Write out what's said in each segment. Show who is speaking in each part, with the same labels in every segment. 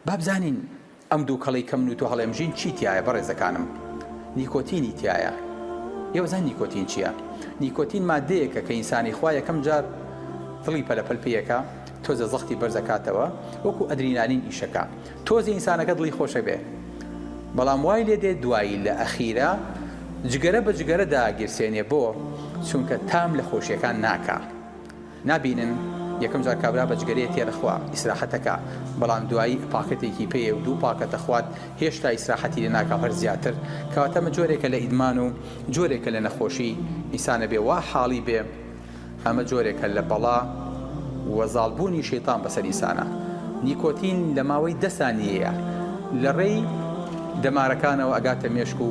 Speaker 1: با بزانین ئەم دووکەڵەی کە من و تۆ هەڵێمژین چی تیایە بەڕێزەکانم؟ نیکۆتینی تیایە. ئێوە زانن نیکۆتین چیە؟ نیکۆتین ماددەیەکە کە ئینسانی خوا یەکەم جار دڵی پەلە پەل پێ یەکا تۆزە زەختی بەرز ئەکاتەوە وەکو ئەدرینالین ئیشەکا تۆزێ ئینسانەکە دڵی خۆشە بێ بەڵام وای لێ دێ دوایی لە ئەخیرا جگەرە بە جگەرە داگیرسێنێ بۆ چونکە تام لە خۆشیەکان ناکا. نابینن یەکەم جار کابرا بە جگەرەیەک تێدەخوا ئیسراحەت ئەکا بەڵام دوایی پاکەتێکی پێیە و دوو پاکەت ئەخوات هێشتا ئیسراحەتی لێ ناکا و هەر زیاتر کەواتە ئەمە جۆرێکە لە ئیدمان و جۆرێکە لە نەخۆشی ئینسان ئەبێ وا حاڵی بێ ئەمە جۆرێکە لە بەڵا و زاڵ بوونی شەیتان بەسەر ئینسانا نیکۆتین لە ماوەی دە سانیەیە لە ڕێی دەمارەکانەوە ئەگاتە مێشک و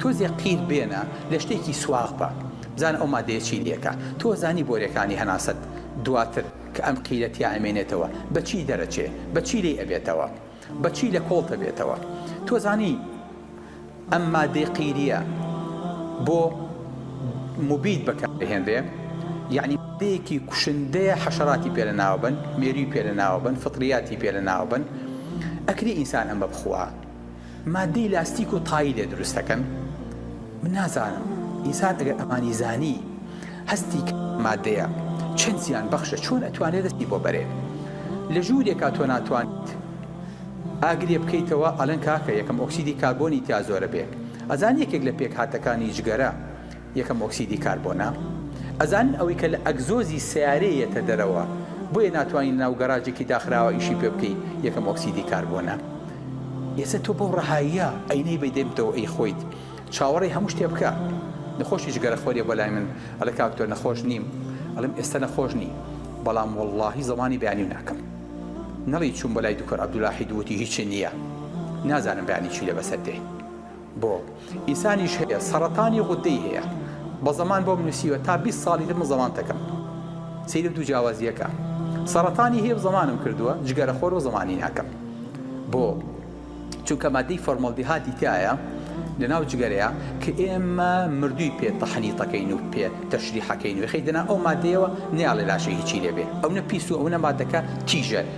Speaker 1: تۆزێ قیر بێنە لە شتێکی سواغ بە بزانە ئەو مادەیە چی لێکە تۆ زانی بۆرێکانی هەناسەت دواتر کە ئەم قیرە تیا ئەمێنێتەوە بە چی دەرەچێ بە چی لێی ئەبێتەوە بە چی لە کۆڵ تەبێتەوە تۆ زانی ئەم مادەی قیریە بۆ موبید بەکار دەهێنرێ یعنی مادەیەکی کوشندەیە حەشەراتی پێ لە ناوە بەن مێروی پێ لە ناوە بەن فطریاتی پێ لە ناوە بەن ئەکری ئینسان ئەمە بخوا ماددەی لاستیک و تای لێ دروست دەکەن من نازانم ئینسان ئەگەر ئەمانی زانی هەستی کە مادەیە چەند زیان بەخشە چۆن ئەتوانێت دەستی بۆ بەرێ لە ژوورێکا تۆ ناتوانیت ئاگرێ بکەیتەوە ئەلەن کاکە یەکەم ئۆکسیدی کاربۆنی تیا زۆرە بێ ئەزان یەکێک لە پێک هاتەکانی جگەرە یەکەم ئۆکسیدی کاربۆنە. ئەزانن ئەوەی کە لە ئەگزۆزی سەیارەیە یەتە دەرەوە بۆیە ناتوانی لە ناو گەراجێکی داخراوە ئیشی پێ بکەی یەکەم ئۆکسیدی کاربۆنە. یەسە تۆ بەو ڕەهاییە ئەینەی بەی دەیبتەوە ئەی خۆیت چاوەڕێی هەموو شتێ بکە نەخۆشی جگەرە خۆریە بۆ لای من ئەڵێ کاک دکتۆر نەخۆش نیم ئەڵێم ئێستە نەخۆش نی بەڵام وەڵاهی زەمانی بەیانیو ناکەم نەڵی چووم بۆ لای دکتۆر عەبدولاحید وتی هیچی نیە نازانم بەیانی چی لێ بەسەر دێ. بۆ؟ ئیسانیش هەیە سەڕەتانی غودەی هەیە بە زەمان بۆم نوسیوە تا بیست ساڵی تر من زەمانتەکەم سەیرە دوو جیاوازیەکە سەڕەتانی هەیە و زەمانم کردووە جگەرە خۆرو زەمانی ناکەم بۆ چونکە مادەی فۆرمەڵدیهاتی تایە لەناو جگەرەیە کە ئێمە مردووی پێ تەحنیتەکەین و پێ تەشریحەکەین وێخەی دەنا ئەو مادەیەوە نیاڵێ لاشەی هیچی لێبێ ئەونە پیس و ئەونە مادەکە تیژە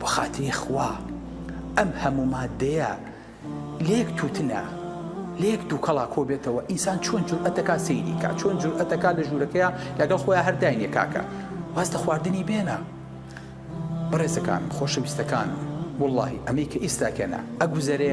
Speaker 1: بۆ خاتری خوا ئەم هەموو مادەیە لەیەک توتنا لەیەک دووکەڵا کۆبێتەوە ئینسان چۆن جورئەتەکە سەیری کا چۆن جورئەتەکە لە ژوورەکەیە لەگەڵ خۆیان هەرداینێ کاکە واز لە خواردنی بێنە بەڕێزەکان خۆشەویستەکان واللهی ئەمەی کە ئیستاکەنا ئەگوزەرێ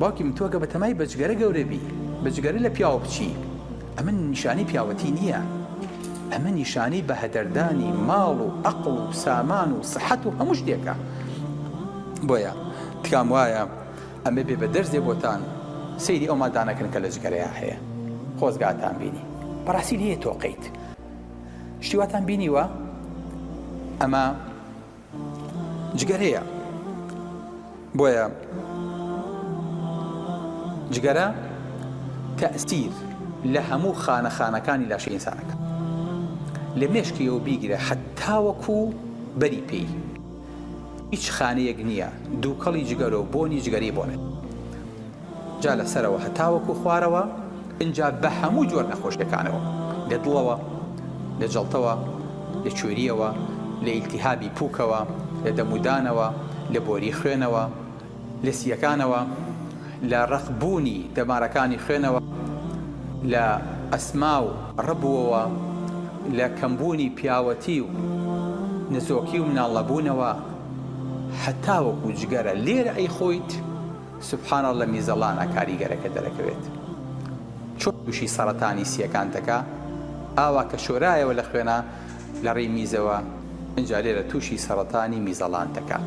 Speaker 1: باوکی من تۆ کە بە تەمای بەجگەرە گەورە بی، بەجگەرە لە پیاوە بچی، ئەمە نیشانەی پیاوەتی نییە، ئەمە نیشانەی بەهەدەردانی ماڵ و ئەقڵ و سامان و سەحەت و هەموو شتێکە. بۆیە تکام وایە ئەمە بێ بە دەرزێ بۆتان، سەیری ئەو مادانە کەن کە لە جگەرەیا هەیە. خۆزگاتان بینی. بەڕاستی لێ تۆقیت. شتی واتان بینیوە؟ ئەمە. جگەرەیە بۆیە جگەرە تەسیر لە هەموو خانە خانەکانی لاشە ئینسانەکە لە مێشکیەوە بیگرە حتاوەکو بەری پێی هیچ خانەیەک نییە دووکەڵی جگەرە و بۆنی جگەری بۆنێت جا لە سەرەوە هەتاوەکو خوارەوە، ئینجا بە هەموو جۆر نەخۆشیەکانەوە، لە دڵەوە، لە جەڵتەوە، لە کوێریەوە، لە ئیلتیهابی پووکەوە، لە دەم و دانەوە، لە بۆری خوێنەوە، لە سیەکانەوە، لە ڕەق بوونی دەمارەکانی خوێنەوە، لە ئەسما و ڕبووەوە، لە کەم بوونی پیاوەتی و نەزۆکی و مناڵ نەبوونەوە، هەتاوەکو جگەرە لێرە ئەیخۆیت سبحان اللە میزەڵانە کاریگەرەکە دەرەکەوێت چۆن توشی سەڕەتانی سیەکان دەکا ئاوا کە شۆرایەوە لە خوێنا لە ڕی میزەوە ئنجا لێرە توشی سەڕەتانی میزەڵان دەکات.